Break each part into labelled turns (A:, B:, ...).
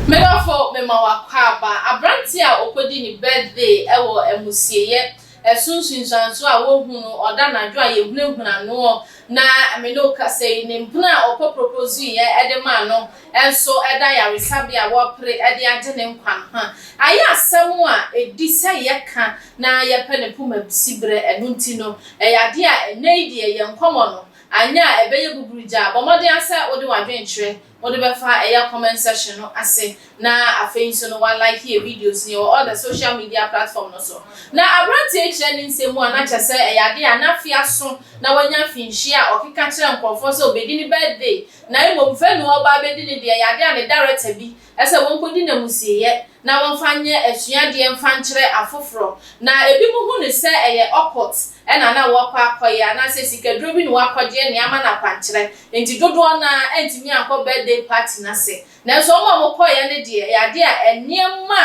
A: Medɔfo, mema wo akwaaba, aberante a okodi ne birthday wɔ amusieyɛ, ɛso nsunsuanso a wohu no ɔda anadwo a yehunahuna noɔ na me ne wo kasa yi, ne mpena a ɔkɔ propozuiɛ de maa no nso da ayaresabea a wɔrepere de agye ne nkwa no ho a. Ayɛ asɛm a edi sɛ yɛka na yɛpɛ ne poma bi siberɛ, ɛno nti no, ɛyɛ adeɛ a ɛnnɛ yi deɛ yɛn nkɔmmɔ no, anyɛ a ɛbɛyɛ buburugyaa. Bɔ mmɔden ara sɛ wode w'adwenkyerɛ wode bɛfa ɛyɛ comment section no ase, na afei nso no wa like yɛn videos no, yɛwɔ all the social media platform no so. Na aberanteɛ yi kyerɛ ne nsɛm mu a na kyerɛ sɛ ɛyɛ adeɛ a n'afe aso na wanya mfinhyia a ɔkeka kyerɛ nkorɔfoɔ sɛ ɔbɛdi ne birthday, na mmom vɛnue a ɔba abɛdi ne deɛ ɛyɛ adeɛ a ne director bi Ɛsɛ wɔkɔdi n'amusieyɛ na wɔmfa nyɛ asuadeɛ mfa nkyerɛ afoforɔ. Na ebinom hu no sɛ ɛyɛ occult na na wɔrekɔ akɔyɛ anaasɛ sikaduro bi na wɔakɔgyeɛ na ama no akwankyerɛ. Enti dodoɔ no ara antumi ankɔ birthday party no ase. Nanso wɔn a wɔkɔeɛ no deɛ, ɛyɛ adeɛ a nneɛma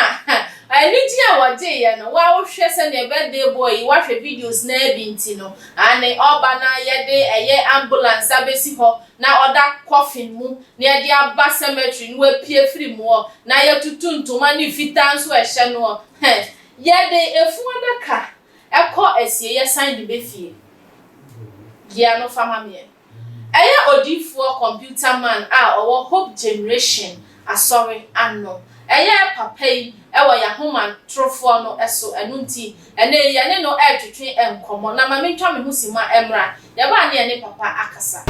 A: a anigyeɛ a wɔgyeeɛ no, wo ara wohwɛ sɛdeɛ birthday boy yi, woahwɛ videos no ara bi nti no, aane, ɔreba na yɛde ɛyɛ ambulance abɛsi hɔ na ɔda coffin mu na yɛde aba cemetery na wapue firi mu hɔ na yɛtutu ntoma ne fitaa nso a ɛhyɛ no hɔ hɛ. Yɛde efunu adaka kɔ asie yɛsan de ba fie. Gea no fa ma meɛ. Ɛyɛ odiyifoɔ computer man a ɔwɔ Hope Generation Asɔre ano. Ɛyɛ papa yi wɔ yɛn ahomatorofoɔ no so, ɛno nti, ɛnnɛ yi yɛne no retwetwe nkɔmmɔ, na ma mentwa me ho simma mmra, yɛbaa ne yɛne papa akasa.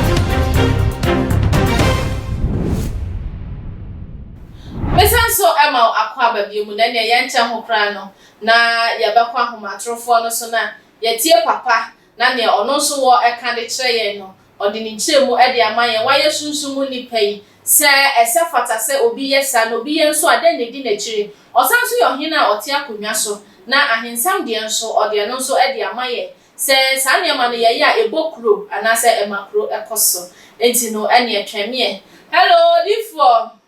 A: Mesa nso ma wo akɔ aba bio mu, na ɛnneɛ yɛnkyɛ ho koraa no, na yɛbɛkɔ ahomatorofoɔ no so na yɛatie papa na nea ɔno nso wɔ ɛka de kyerɛ yɛn no, ɔde ne nkyerɛmu de ama yɛn. Wayɛ sunsum mu nnipa yi. Sɛ ɛsɛ fata sɛ obi yɛ saa, na obi yɛ nso a, dɛn na edi n'akyiri? Ɔsan nso yɛ Ɔhene a ɔte akonnwa so, na ahensɛm deɛ nso, ɔde ɛno nso de ama yɛn. Sɛ saa nneɛma no yɛyɛ a, ɛbɔ kuro anaasɛ ɛma kuro kɔ so. Enti no, ɛnneɛ twɛn me ɛ. Hello, odiyifoɔ!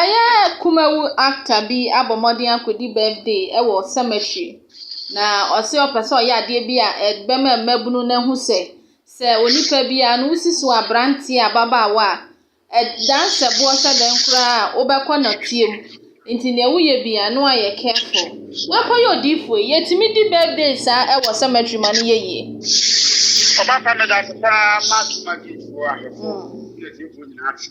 A: Ɛyɛ kumawu actor bi abɔ mmɔden akɔdi birthday wɔ cemetery, na ɔse ɔpɛ sɛ ɔyɛ adeɛ bi a ɛbɛma mmabunu no ahu sɛ, sɛ onipa biara no wosi so aberanteɛ, ababaawa a, ɛdan sɛ boɔ sɛ dɛn koraa a wobɛkɔ nɔteɛ mu. Nti deɛ woyɛ biara no ayɛ careful. Woakɔyɛ odiyifoɔ yi, yɛtumi di birthday saa wɔ cemetery ma no yɛ yie. Ɔbasa
B: meda ase paa ma dwumadie foɔ ahwɛfoɔ ne atiefoɔ nyinaa ase.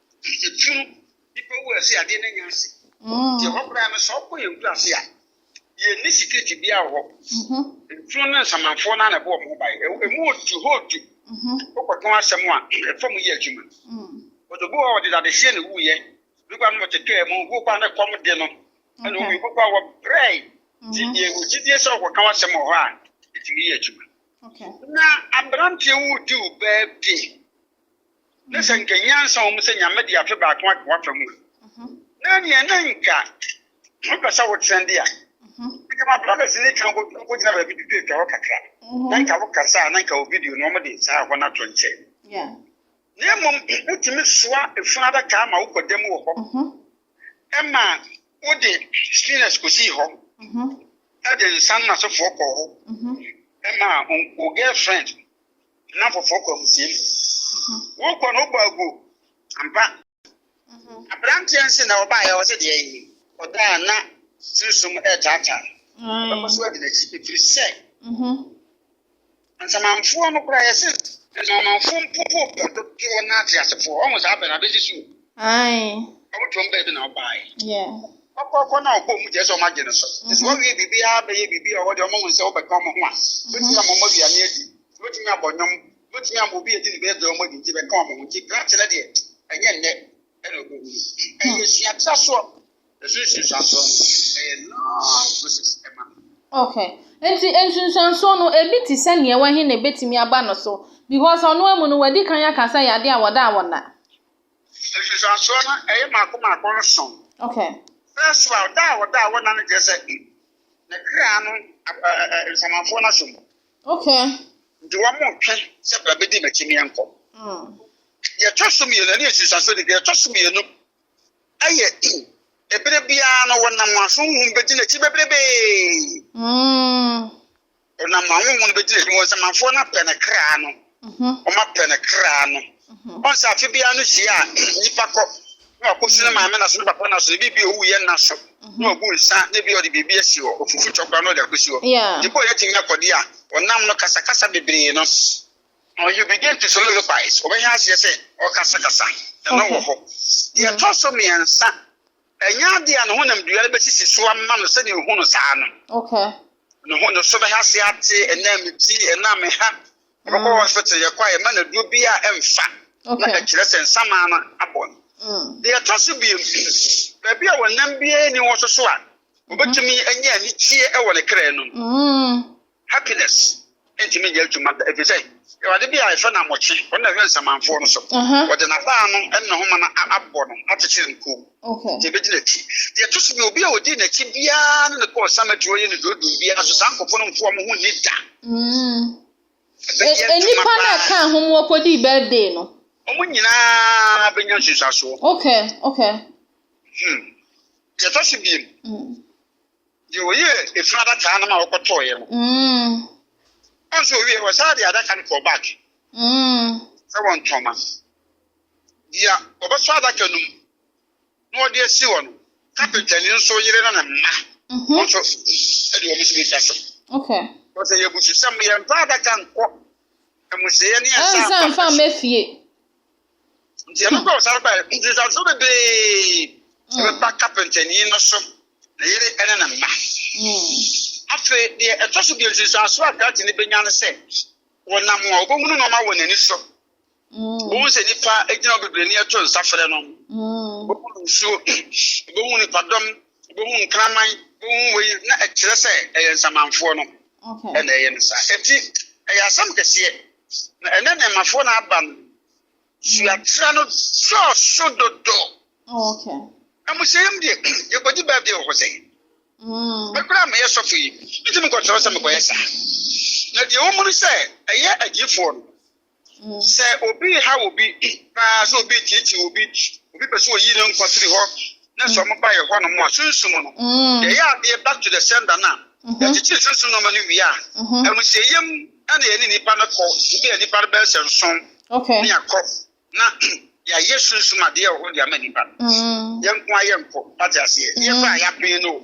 B: Ɛtu no, nipa wu ase adeɛ no anya ase. Nti ɛhɔ koraa no sɛ ɔkɔ yɛn kura ase a, yɛn ni security biara wɔ hɔ. Ntuo ne nsamanfoɔ no ara na ɛbɔ wɔn ho ban. Ɛmu odu hɔ odu. Wokɔtɔn asɛm a, ɛfa mu yɛ adwuma. But obi wɔ hɔ a ɔde dadehyeɛ na ɛwuiɛ. Obi koraa no ɔte kaa mu, obi koraa no ɛkɔm de no ɛna ɔwui, obi koraa wɔbrɛe. Nti yɛn wɔ gyidie sɛ wokɔka w'asɛm wɔ hɔ a, ɛtumi yɛ adwuma. Na
A: aberanteɛ
B: wo di wo birthday Na sɛ nka nyansa wɔ mu sɛ Nyame de afe baako aka w'afa mu a, na ɛneɛ na nka wo pɛ sɛ wo tena de a, nka ma brothers no twa nkɔ nkɔ gyina baabi twitwa twa hɔ kakra, na nka wo kasa a na nka wo video no wɔn de saa hɔ no ato nkyɛn.
A: Na mmom
B: wo tumi soa efunu adaka ma wo kɔ da mu wɔ hɔ, ɛma wo de spinners kɔ sii hɔ, ɛde nsa no na sofoɔ kɔ hɔ, ɛma wo girlfriend na foforɔ kɔ amusiam wokɔ no wobɔ agu ampa aberanteɛ nse na ɔbaeɛ wɔ sɛ deɛ yi ɔdaa na sunsum ɛretaataa ɔbɛkɔ so adi n'akyi ɛfiri sɛ nsamanfoɔ no koraa yɛse nsamanfoɔ mpopo pɛ dodoɔ no ate asefoɔ ɔmo saa pɛ na abɛsi so
A: ɔmo tuom baabi
B: na ɔbaeɛ
A: ɔkɔkɔ na
B: ɔbɔ mu gyɛ sɛ ɔmo agye no so ɛsɛ ɔwie biribiara bɛyɛ biribi a ɔwɔ deɛ ɔmo ho nsɛ ɔbɛka ɔmo ho a bɛsi ɔmo mmɔ duane adi Wobɛtumi abɔ nnwom, wobɛtumi ama obi adi ne birthday ɔmmɔ din nti bɛka wɔn ho nti krakye no deɛ ɛnyɛ nnɛ ɛna ɔbɛhu ɛyɛ suatrasoɔ ɛso nsunsuansoɔ no ɛyɛ long process ɛma no. Okay
A: nti nsunsuansoɔ no ebi te sɛ neɛ wahi na ɛbɛtumi aba no so because ɔno amu no wadi kan aka sɛ yade a wɔda a wɔnna.
B: Nsunsuansoɔ no ɛyɛ maako maako nson. Okay. First
A: wa ɔda
B: a wɔda a wɔnna no kyerɛ sɛ ne kra no nsamanfoɔ no asom. Okay.
A: Nti wɔn mo
B: ntwe sɛ bra bedi m'akyi ne yɛn kɔ. Mm. Deɛ ɛtɔ so mmienu ɛne nsunsuanso de deɛ ɛtɔ so mmienu ɛyɛ in ebere biara no wɔnam aso huhum bedi n'akyi bebrebee. Mm. Wɔnam ahohom no bedi n'akyi wɔn nsamanfoɔ no apɛ ne kra no. wɔapɛ no kra no. Wɔn sɛ afe biara no hyia a nipa kɔ na wakɔsi ne maame na so ne papa na so ebi bi owu yɛ nna so na wagu nsa na ebi ɔde biribi asi hɔ ofufu twɔ kora na ɔde akɔsi hɔ. Ebi ɔyɛ tumi akɔde a ɔnam no kasakasa bebree no. Now you begin to soliloquize. Ɔbɛhwɛ aseɛ sɛ ɔkasakasa na na wɔ hɔ. Deɛ ɛtɔ so mmiɛnsa Ɛnyɛ ade a ne honam dua no bɛsisi so ama no sɛdeɛ ɛhu no saa no.
A: Ne ho ne so
B: bɛha ase ate, ɛnam me ti, ɛnam me ha. Ɔbɛkɔ mm. hospital yɛkɔ a yɛma no aduro bi a ɛmfa na ɛkyerɛ sɛ nsamaa no abɔ no. Mm. Deɛ ɛtɔ so biem, baabi a wɔnam biara ni wɔ so so a, wɔbɛtumi anya anigyeɛ wɔ ne kra no mu. Mm. Happiness ntumi nyɛ adwuma da ɛfiri sɛ awurade bi a yɛfrɛ no Amokye, ɔno na ɛhwɛ nsamanfoɔ no so. Wɔde n'abaa no ne ne homa no abɔ no akyekyere no koom nti ɛbɛdi n'akyi. Deɛ ɛto so bi obi a ɔdi n'akyi biara ne no kɔɔ samaturo yɛ ne deɛ ɔdum biara so saa nkɔfoɔ no mfoɔ mo ho nni da. Ɛbɛyɛ
A: adwuma paa. Nnipa no a ɛkaa ho mu wɔkɔdii birthday no. Wɔn nyinaa
B: bɛnya nsunsuasoɔ. Okay, okay.
A: Hmm.
B: Deɛ ɛtɔ so biem. Deɛ wɔyɛɛ efunu adakaa no ma wɔkɔtɔeɛ no, wɔn sɛ wɔwie wɔsan de adaka no kɔɔ back sɛ wɔntɔn ma deɛ wɔbɛsɔ adaka no mu na wɔde asi hɔ no. Kapentani nso yere ne ne mma wɔn nso de wɔn nso bɛtwa so. Wɔsɛ
A: yɛ abususɛm
B: yɛmfa adaka nkɔ amusiiɛ ne yɛsan mfa mma fie. nti ɛno kɔ ɔsan bae nti nsase bebree hmm. ɛbɛba kapɛntani no so ne yere ɛne ne mma hmm. afei deɛ ɛtɔ so deɛ nsusuaso a krate no bɛnya no sɛ wɔnam a wɔbɛhunu nɔɔma wɔ n'ani so hmm. wɔhu sɛ nipa gyina bebree ne ɛto nsa frɛ no wɔhunu nsuo wɔhunu nipadɔm wɔhunu nkraman wɔhunu wei na ɛkyerɛ sɛ ɛyɛ nsamanfoɔ no Okay. na ɛyɛ no
A: saa. Eti
B: ɛyɛ asɛm kɛseɛ. Na ɛnɛ nneɛmafoɔ na aba no. Suatra no dɔɔso dodo. Oh, okay.
A: Na mo hyɛ yam
B: deɛ yɛkɔgye bɛɛbi wɔ hɔ sɛ. Mekura meyɛ sɔfo yi. Nti mekɔkyerɛ sɛ mekɔyɛ saa. Na deɛ wɔn mu no sɛ ɛyɛ agyifoɔ no. Sɛ obi rehaw obi paa, sɛ obi retiatia obi, obi pɛ sɛ oyi ne nkwa firi hɔ, na sɛ wɔn ba yɛ hɔnom a, sunsum no, yɛyɛ adeɛ back to the sender no a, yɛkyekyere sunsum nneɛma no wie a, amusieyam na yɛne nipa no kɔ, ebi a nipa no bɛyɛ sɛ nson, ne yɛakɔ, na yɛayɛ sunsum adeɛ wɔ hɔ de ama nipa no, yɛn nko ara yɛnkɔ, wate aseɛ, yɛn kɔ a yɛapene no o.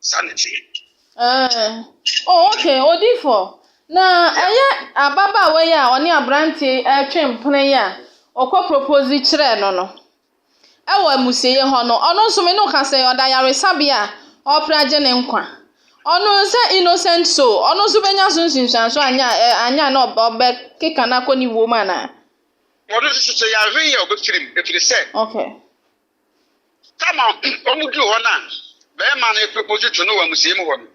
B: Saa na ɛteɛ. Ɛɛ,
A: oh, okay, odifo. Na ɛyɛ ababaawa yi a ɔne aberante retwe mpena yi a ɔkɔ propose kyerɛɛ no no. Ɛwɔ amusieyɛ hɔ no, ɔno nso me ne wo ka sɛ ɔda ayaresabea a ɔrepere agye ne nkwa. Ɔno sɛ innocent soul, ɔno nso bɛnya so nsunsuanso anyɛ a, ɛ- anyɛ a na ɔb- ɔbɛkeka no akɔ ne wuo mu anaa? Ɔno nso so
B: sɛ yɛanhwɛ yie a ɔbɛfirim, ɛfiri sɛ Okay. Tam a wɔduu hɔ no a barima no reproposi to no wɔ amusiei mu hɔ no,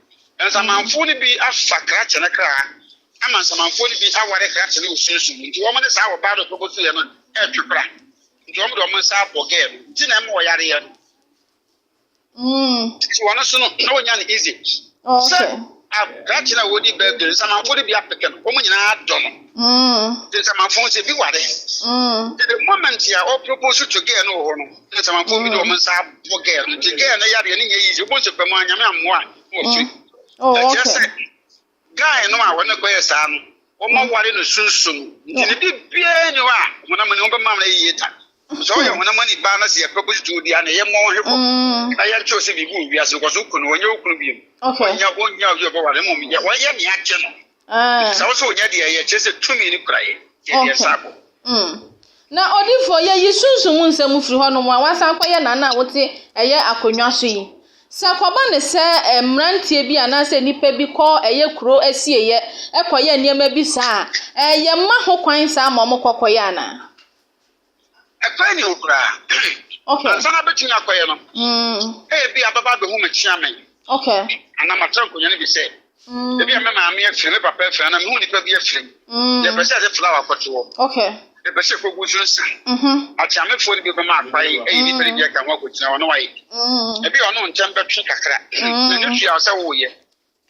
B: nsamanfoɔ no bi afa krakye no kra ama nsamanfoɔ no bi aware krakye no wɔ sunsum mu. Nti wɔn ne saa ɔbaa no ɔproposiiɛ no retwe kora. Nti wɔn de wɔn nsa abɔ gɛɛ no ti na ɛma ɔyareɛ no. nti wɔn so no na wɔnya no easy sɛ
A: akrakye
B: no a wɔdi birthday nsamanfo no bi apeke no wɔn nyinaa dɔ no nti nsamanfo sɛ bi ware nti the moment a ɔpropose to girl no wɔ hɔ no na nsamanfo bi de wɔn nsa abɔ girl no nti girl no yareɛ no nyɛ easy wɔn sɛ pɛ mu anyame ammoa na wɔfiri ɛkyerɛ sɛ Guy no a wɔne kɔyɛ saa no, wɔma ware no sunsum. Nti ne biribiara ni hɔ a honam ani ho bɛma no yiye da. Sɛ ɔyɛ honam ani baa na sɛ yɛpɛ bɔ tutuw deɛ a, na ɛyɛ mmɔ ho hwebɔ. Mm. Na yɛnkyerɛw sɛ biribi wɔ wiase no, kɔ so ku no, wɔnyɛ wo kunu bio. Wɔnyɛ wɔnyɛ
C: obi a ɔbɛware
B: no, mmom yɛ wɔyɛ nea agye no. Ah. Sɛ wo sɛ wɔnyɛ deɛ ɛyɛ, kyerɛ sɛ tumi no kura yɛ. Yɛ deɛ saa bɔ. Mm.
C: Na odiyifoɔ, yɛyi sunsum mu nsɛm firi hɔ nom a wɔasan kɔyɛ nana a wote ɛyɛ akonnwa so yi. Sɛ kɔba no sɛ mmeranteɛ bi anaasɛ nnipa bi kɔ ɛyɛ kuro asieeɛ kɔyɛ nneɛma bi saa a, ɛɛ yɛma ho kwan saa ma wɔkɔ kɔyɛ anaa?
B: Ɛkwan nni ho koraa. Okay. Ansa
C: na bɛtumi akɔyɛ
B: no, ebia bɛba abɛhu me kyeame Okay. anaa
C: matra nkonnwa no
B: bi sɛ Mm. Ebi a me maame afiri me papa afiri anaa mehu nipa bi afiri mu. Mm. Yɛpɛ sɛ yɛde flower kɔto hɔ. Okay. Yɛpɛ sɛ
C: kogu so
B: nsa. Mhm. Akyeamefoɔ no bi bɛma akwae ɛyɛ nipa no bi aka ho akɔgyina hɔ na wayɛ bi. Mm. Ebi a ɔno ntɛm bɛtwe kakra. Mm. Na ne tua sɛ woyɛ.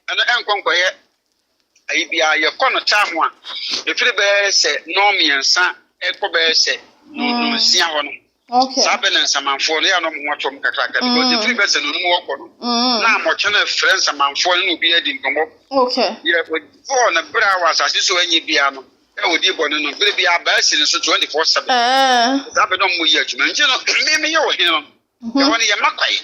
B: Ɛno ɛnkɔ nkɔyɛ ayi biara yɛkɔ no taa ho a ɛfiri bɛyɛ sɛ nɔɔ mmiɛnsa ɛkɔ bɛyɛ sɛ nonsia hɔ no. Okay. saa bɛ na
C: nsamanfoɔ no
B: yɛ anɔ mo ho atom kakraka mm. because ɛfiri bɛsɛ no nom wɔkɔ no mm. na mɔkyɛ no frɛ nsamanfoɔ no na obi adi nkɔmmɔ okay. yɛ
C: ɔdifɔɔ
B: no berɛ a wɔ asase so anyɛ biara no ɛ ɔdi bɔ no no berɛ bi abaa si no so 24 7 saa bɛ na ɔmmɔ yi adwuma nti no me meyɛ wɔ hene no mm-hmm. ɛhɔ no yɛmma kwae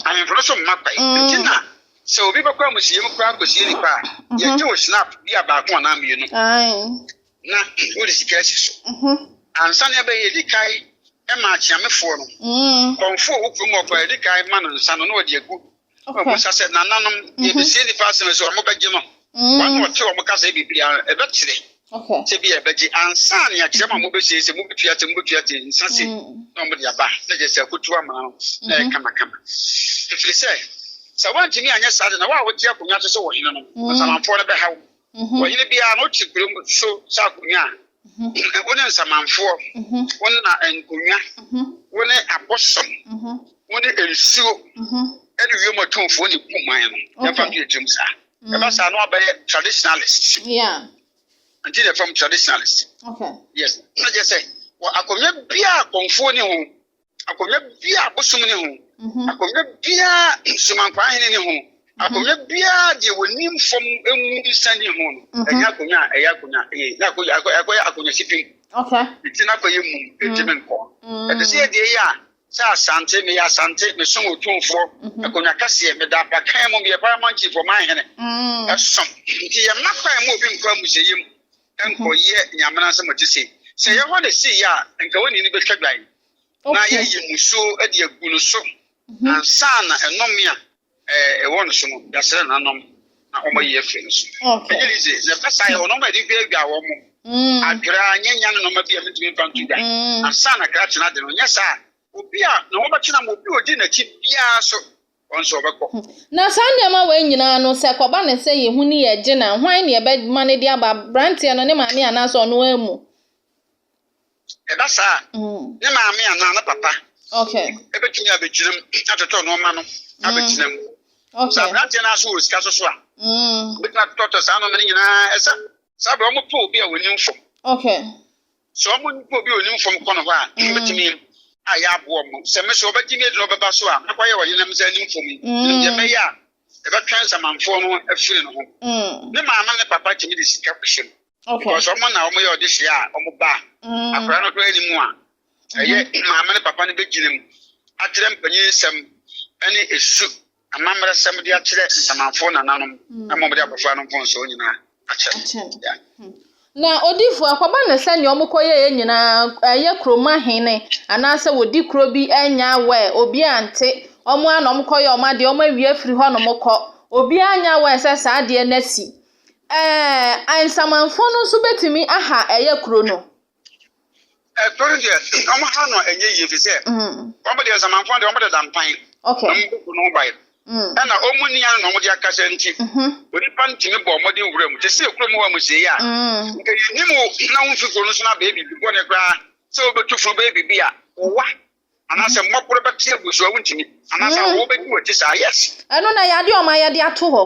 B: ahemfo no so
C: mma kwae
B: mm. nti na sɛ obi bɛkɔ amusiam koraa kɔsie nipa a mm-hmm. yɛgye wo snap bi a baako anaa mmienu na wode sika asi so. Mhm. Ansa na ɛbɛyɛ ɛdi kae ma akyeamefoɔ no. Mm. Kɔmfoɔ wo kurom ɔkɔ ɛdi kae ma no nsa no na ɔde agu. Ɔkɔ nsa sɛ nananom mhm. yɛbɛsie nipa asɛm sɛ wɔn bɛgye no. Mm. Wɔn na ɔte wɔn kasa biribi a ɛbɛkyerɛ. Sɛ bi ɛbɛgye ansa ne akyerɛ ma mobɛsie sɛ mobɛtua te mobɛtua te nsa se mm. na wɔde aba na gye sɛ akotu ama no na ɛyɛ mhm. kamakama. Ɛfiri sɛ sɛ woantumi anyɛ saa de na woa wote akonnwa so sɛ wɔ hene no. Asamanfoɔ no bɛhaw. Mhm. Ɔhene biara no te berem so sɛ akonnwa a Mhm. wo ne nsamanfoɔ, Mhm. wo ne na nkonnwa, Mhm. wo ne abosom, Mhm. wo ne nsuo Mhm. ɛne wiem atumfoɔ ne gu man no. Okay. Yɛmfa nto yɛn tirim saa. Mm. Ɛba saa no abɛyɛ traditionalist. Yeah. Nti na ɛfam traditionalist. Okay. Yes.
C: Na kyerɛ sɛ
B: wɔ akonnwa biara a kɔmfoɔ ne ho akonnwa biara a bosom ne ho mhm. akonnwa biara somankwa ahene ne ho mhm. akonnwa biara deɛ wɔnim fam mu nsa ne ho no mhm. ɛnyɛ akonnwa a ɛyɛ akonnwa ɛyɛ akonnwa akɔyɛ akonnwa sipim ɛti no
C: akɔyɛ mum
B: ɛti me nkɔ ɛte sɛ yɛdeɛ yɛ a sɛ asante meyɛ asante mesom otumfoɔ akonnwa kɛseɛ meda abakan mu meyɛ paramountfoɔ mahene ɛsom nti yɛmma kwan mu obi nkɔ amusɛyɛ mu nkɔyɛ nea mmara nsɛm te se. Sɛ ɛyɛ hɔ na esii a, anka onii no betwa dwan na yɛayi mmusu de agu no so mhm. ansa na ɛnome a ɛwɔ no so no yɛasrɛ no anom na wɔayi afiri no so. Ɛnyɛ yize na ɛba saa yɛ ɔnɔma yɛde hwɛ adwa wɔ mo mm. adwerɛ a nyɛ nya no nɔma bi a metumi mfa nto dwan mm. ansa na kra tena de no nyɛ saa obi a na wɔbɛtena ma obi odi n'akyi biara so wɔn nso wɔbɛkɔ. Na saa nneɛma
C: wei nyinaa no, sɛ ɛkɔba no sɛ yɛn ho ne yɛn gye no a, hwan na yɛbɛma no de aba? Aberanteɛ no, ne maame anaasɛ ɔno ara mu?
B: Ɛba saa a, ne maame anaa ne papa
C: bɛtumi abɛgyina
B: mu atotɔ nneɛma no abɛgyina mu. Sɛ aberanteɛ
C: no ara so wɔ
B: sika so so a, ɔbɛtumi atotɔtɔ saa nneɛma no nyinaa. Ɛsɛ saa berɛ wɔpo obi a wɔnim fam.
C: Sɛ ɔmo
B: nipa obi a onim fam kɔ no hɔ a, mm. mɛtumi a yɛaboa ɔmo. Sɛ me so ɔbɛgye me adi na ɔbɛba so a, mɛkɔyɛ ɔhene na mesɛ anim fam yi. Ɛnim deɛ mɛyɛ a, ɛbɛtwɛn nsamanfoɔ no afiri no ho. Mm. Ne maame ne papa tumi de sika kɔhyɛ mu. Because ɔmo na
C: ɔmo yɛ ɔde
B: hyɛ a ɔmo ba. Mm. Akwadaa no koraa anim a, ɛyɛ mm-hmm. maame ne papa no bɛgyina mu akyerɛ mpanyin nsɛm ɛne esu Amammerɛsɛm de akyerɛ nsamanfoɔ nananom na mmom de abɔfra no mfomsoɔ nyinaa akyɛ no. Na
C: odiyifoɔ ɛkɔba no sɛ nea wɔkɔyɛeɛ nyinaa ɛyɛ kurom ahene anaasɛ wɔdi kuro bi ɛnyɛ aware, obiara ante, wɔn ara na wɔkɔyɛ wɔn adeɛ, wɔawie afiri hɔnom kɔ, obiara nyɛ aware sɛ saa adeɛ no asi. Ɛɛ nsamanfoɔ no nso bɛtumi aha ɛyɛ kuro no.
B: ɛtɔ no deɛ wɔn ha no ɛnyɛ yie fi sɛ wɔn deɛ nsamanfoɔ deɛ wɔn deda mpan okay wɔn bɛ bu no
C: ban
B: ɛna wɔn ni ano na wɔn de akasa nti onipa ntumi bɔ wɔn de nwura mu te sɛ ekuro mu hɔ mu sɛ yɛ a nka yɛ nim na wɔn fi kuro no so na bɛyɛ biribi bɔ ne koraa sɛ wɔbɛtu funu bɛyɛ biribi a wɔwa anaasɛ mmɔborɔ bɛte agu so a wontumi anaasɛ mm. awɔwɔ bɛdi wɔakyi saa yes ɛno na yɛade ɔma
C: yɛde ato hɔ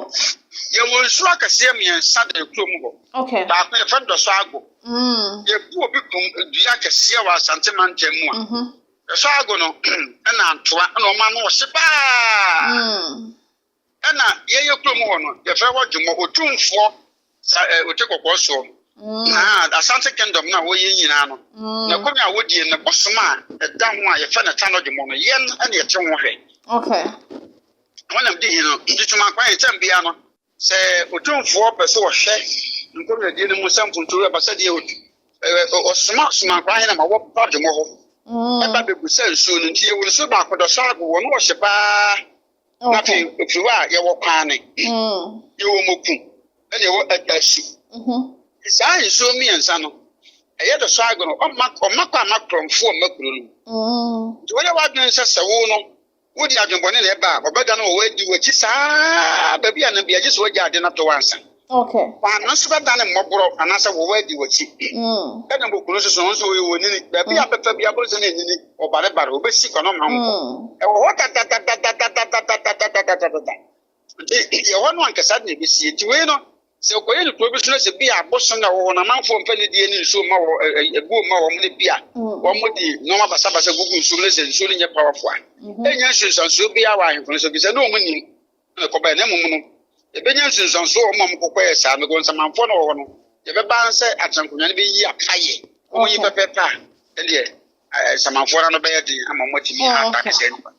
C: yɛwɔ nsuo
B: akɛseɛ mmiɛnsa da ɛkuo mu hɔ okay. baako yɛfɛ
C: dɔsɔ
B: ago mm. yɛbu obi kum dua akɛseɛ wɔ asante mantam mu a mm-hmm. dɔsɔ ago no ɛna ntoa ɛna ɔma no ɔhye paa mm. Ɛna yɛyɛ kurom hɔ no yɛfrɛ hɔ dwomɔ otumfoɔ sa ɛ eh, ote kɔkɔɔ soɔ no mm. na asante kingdom no a wɔyɛ nyinaa no mm. na kɔmi a wɔdie no bosom a ɛda ho a yɛfrɛ no ta no dwomɔ no yɛn ɛna yɛte ho hwɛ
C: okay.
B: wɔnam di hi no ntutuma kwan ntɛm bia no sɛ otumfoɔ pɛ sɛ wɔhwɛ nkɔmiadie no mu sɛ mfontuo ɛba sɛ deɛ ɔsoma somankwan hena ma wɔba dwomɔ hɔ ɛba bɛgu sɛ nsuo no nti yɛwɔ nsuo baako dɔ sɛ ago wɔ no wɔhyɛ paa na afei ɛfiri hɔ a yɛwɔ kwaane mm. yɛwɔ moku ɛna ɛwɔ ɛdasu mm-hmm. saa nsuo mmiɛnsa no ɛyɛ dɔ so agorɔ ɔma ɔma kɔ ama korɔmfo ɔma kuro no mm. nti wɔyɛ wadwene sɛ sɛ wo no wodi adwenbɔne na ɛba a ɔbɛda no wɔ wadi wakyi saa baabi a na bi agye sɛ wagya ade no ato wansa mm. Okay. Wɔn no
C: nso bɛda
B: ne mmɔborɔ anaasɛ wɔwɔ adi wɔakyi. Ɛna mm. bokunu nso so wɔn nso wɔyɛ wɔn nini. Baabi a mm. bɛfa bi aboro sɛ ne nini ɔbarebare obɛsi kɔ na ɔma nkɔ. Ɛwɔ hɔ dadadadadadadadadadadadadada. Nti yɛ hɔ no ankasa de na ɛbɛsi. Nti wei no sɛ ɔkɔyɛ no kuro bi so no sɛ bi a abosom na ɛwɔ hɔ no amanfoɔ mfa ne die ne nsuo mma wɔ ɛbuo mma wɔn ne bi a wɔn de nneɛma basabasa gugu nsuo mu ne sɛ nsuo no nyɛ powerful a. Ɛnyɛ nsunsansuo biara wɔ ahemfo no so bi sɛ ne wɔn nim. na ɛkɔbae, na mmom no, yɛbɛnya nsensanso wɔ wɔn a wɔkɔkɔ yɛ saa no. Go nsamanfoɔ no wɔ hɔ no, yɛbɛba sɛ atenankonnwa no bɛyi apa yɛ wɔn yi pɛpɛɛpɛ a, ɛdeɛ nsamanfoɔ no ano bɛyɛ den ama wɔn atumi oh, ata ne sɛ nipa.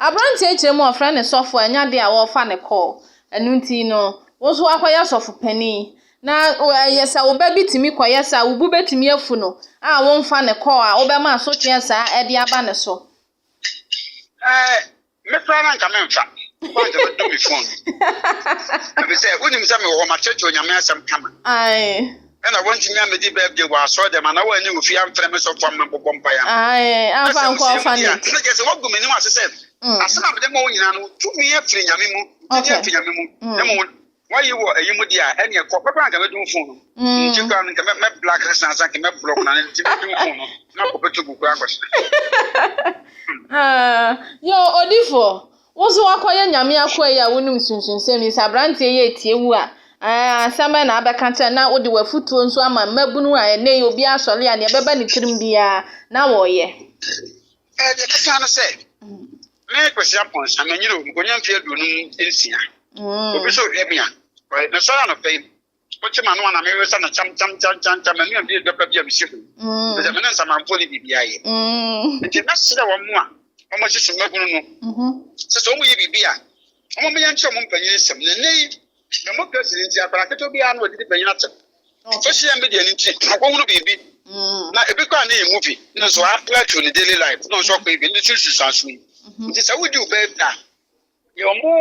B: Aberanteɛ
C: kyerɛ mu ɔfrɛ ne sɔfo a ɛnya de a wɔfa ne kɔɔ. Ɛno nti no, wo nso wakɔyɛ sɔfo panin. Na ɛyɛ sɛ wo ba bi tumi kɔyɛ saa, wo bu bɛtumi afu no a womfa ne kɔɔ a wobɛma asotweɛ saa ɛde aba ne so.
B: Me koraa na nka memfa kɔ anka bɛdɔ me fon ɛfiri sɛ wonim sɛ mewɔ hɔ makyerɛkyerɛ onyame asɛm kama
C: ɛna wontumi
B: amedi birthday wɔ asɔre dɛm anaa woanni wo fie amfrɛ me sɔfo ama bɔbɔ mpaeɛ amfa nkɔ
C: ɔfanage na kyerɛ sɛ woagu
B: m'anim
C: ase
B: sɛ asɛm a mede ma wo nyinaa no tumi afiri nyame mu tumi afiri nyame mu na mmom Wayi wɔ eyi mu deɛ a, ɛneɛ kɔ. Mɛkɔ na nka mɛdum fon no. Nti koraa no, nka mɛ mɛ black sesa asa nka mɛ block na nti mɛdum fon no. Na kɔ bɛtu gu koraa kɔsena.
C: Yo, odifo. Wo nso wakɔyɛ nyame akoa yi a wonim sunsunsɛm yi. Sɛ aberanteɛ yi etie wu a, ɛɛ asɛm bɛn na abɛka kyerɛ na wode w'afutuo nso ama mmabunu a ɛnɛ yi obi asɔre a nea ɛbɛba ne tirim biara na wɔyɛ. Ɛɛ deɛ
B: ɛbɛka no sɛ, Me Kwesi Aponsa, manyini o, mekonya mfe aduonum nsia. Obi so hwɛ me a, mesɔre anɔpa yi, wokye m'ano a na mewesa no kyam kyam kyam kyam kyam, manuam bi dɔ pa bi a mesi ho, ɛfisɛ me ne nsamanfoɔ ne biribi ayɛ. Nti mɛsrɛ wɔn a wɔsisi mmabunu no sɛ sɛ wɔyɛ biribi a, wɔmmɛyɛ nkyerɛ wɔn mpanyin nsam. Na nnɛ yi, Democracy no nti, akwadaa ketewa biara na wɔde di panyin atɛm. Social media no nti, ɔkɔhunu biribi mm. na ebi koraa ne yɛ movie ne nso apply to ne daily life na ɔsɔ kɔ ebi ne so susanso yi. Mm-hmm. Nti sɛ wodi wo bɛɛ bi a, yɛ ɔmo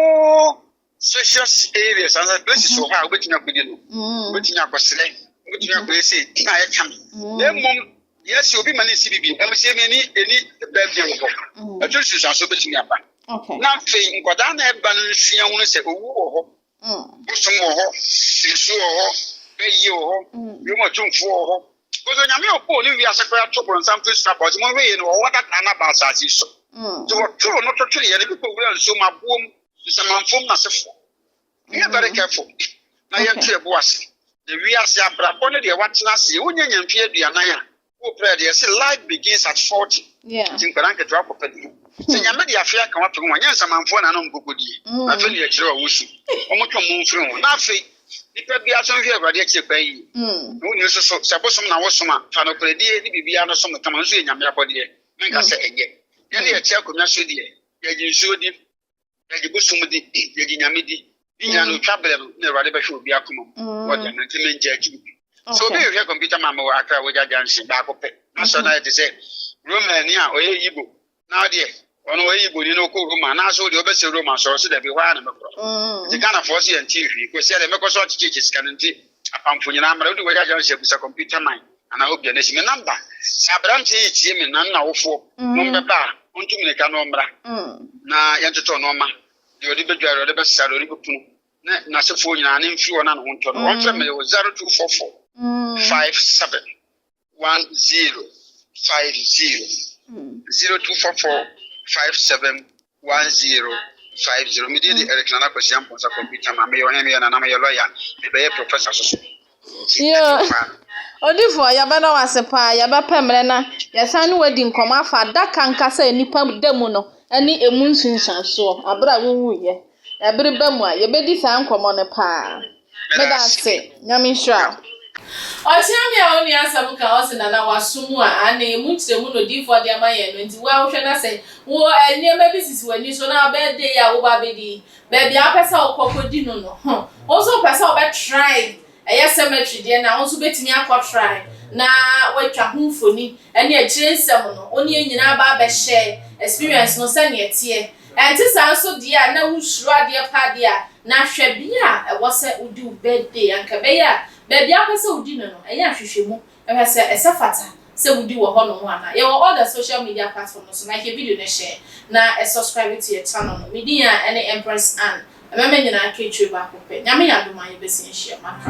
B: spacious areas ansa places wɔ hɔ a wobɛtumi akɔdi no. Mm-hmm. Wobɛtumi akɔsrɛ, wobɛtumi akɔyɛ sei na ɛka me. Na mmom Yes, obi ma ne si bibi. Ɛmu sɛ ɛmi ɛni ɛni bɛɛfie wɔ hɔ. Ɛtɔ si nsuanso bɛtumi aba. Na afei nkwadaa na ɛba no nsua ho sɛ owu wɔ hɔ. Bosom wɔ hɔ, nsu wɔ hɔ, bɛyie wɔ hɔ, wiem atumfoɔ wɔ hɔ. Because onyame ɔbɔɔ ne wiase koraa to bɔnsam firi soro aba ɔsɛ mo hwɛ yie no wɔ hɔ dada na ba asase so. Nti wɔtoro no totoro yɛ no bi kɔ wura nsuo mu aboɔ mu nsamanfoɔ mu nasefoɔ. We are very careful. Na yɛn tu ɛbo ase. Na wiase abrabɔ ne deɛ watena aseɛ. Wonya nya mfeɛ aduanan a, woprɛ deɛ ɛse life begins at 40. Nti nkwadaa nketewa kɔpɛ deɛ. Sɛ nyame de afe aka wato ho a, nyɛ nsamanfoɔ na anom kokodie. Na afei ne yɛkyerɛ wɔn su. Wɔn twe wɔn mfiri ho. Na afei nipa biara nso nhwɛ awurade akyire kwan yie. Na wonni nso so sɛ bosom na wosom a, fa nokorɛdie ne biribiara no som no kama. Ɛno nso yɛ nyame abɔdeɛ. Menka sɛ ɛnyɛ. Yɛn ne yɛkyɛ akonnwa so deɛ, yɛgye nsuo di. yɛgye bosom di yɛgye nyame di ne nyinaa no otwa berɛ no na awurade bɛhwɛ obi akoma mu mm. wɔde ama nti mengye agye no bi so obi hwehwɛ kɔmputa ma mewɔ akra wɔgya junction baako pɛ na sɛ na yɛ te sɛ romani a ɔyɛ yibo na ɔdeɛ ɔno ɔyɛ yibo ni na ɔkɔ roma anaasɛ ɔdeɛ ɔbɛsɛ roma sɔrɔ sɛ dabi hɔ ara na mɛkorɔ mm. nti ghanafoɔ sɛ yɛnte hwii kɔsi ɛdɛ mɛkɔ so akyekyekyɛ sika no nti apamfo nyinaa mmara wode wɔgya junction bisa kɔmputa man Anaa obi a na si me namba. Sɛ aberanteɛ yi tie me na ne n'awofoɔ nom bɛba a, ɔntu mmirika na ɔmmra, na yɛntotɔ nnoɔma, deɛ ɔde bɛdware, deɛ ɔde bɛsesa, deɛ ɔde bɛpunu, ne n'asefoɔ nyinaa, na mfiri wɔn a ne ho ntɔ no. Wɔmfrɛ me wɔ 0244 57 10 50, 0244 57 one zero five zero mi deɛ de Eric Nana Kwasi Amponsah kɔmputa ma meyɛ ɔhene meyɛ nana meyɛ lɔya mebɛyɛ professor soso yoo
C: odifoɔ yɛbɛda wo ase paa yɛbɛpɛ mmerɛ na yɛsan ne wadi nkɔmmɔ afa adaka nkasa a nnipa da mu no ne emu nsunsuansoɔ aberɛ a wowuiɛ ɛbere ba mu a yɛbɛdi saa nkɔmmɔ no paa Meda ase Nyame nhyira wo. Ɔkyea
A: me a ɔnni asɛm ka ɔse Nana waso mu a aane emu nkyerɛmu na odiyifoɔ de ama yɛn no nti wo a wohwɛ na sɛ wo nneɛma bi sisi w'ani so na birthday yi a woba abɛdi yi baabi a wopɛ sɛ wokɔ kɔdi no no ho wo nso wopɛ sɛ wobɛ try ɛyɛ cemetery deɛ no a wo nso wobɛtumi akɔ try na woatwa ho mfoni ɛne akyire nsɛm no wo ne yɛn nyinaa aba abɛhyɛ experience no sɛdeɛ ɛteɛ Ɛnte saa nso deɛ a na wosuro adeɛ paa deɛ a, na hwɛ bea a ɛwɔ sɛ wodi wo birthday anka ɛbɛyɛ a baabi a wopɛ sɛ wodi no no, ɛyɛ nhwehwɛmu hwɛ sɛ ɛsɛ fata sɛ wodi wɔ hɔnom anaa. Yɛwɔ all the social media platform no so na hwɛ video no hyɛ na subscribe to yɛn channel no. Me din a ɛne Empress Anne. Ɛbɛma nyinaa aka akyire baako pɛ. Nyame yɛ adom a yɛbɛsan ahyia mu aka.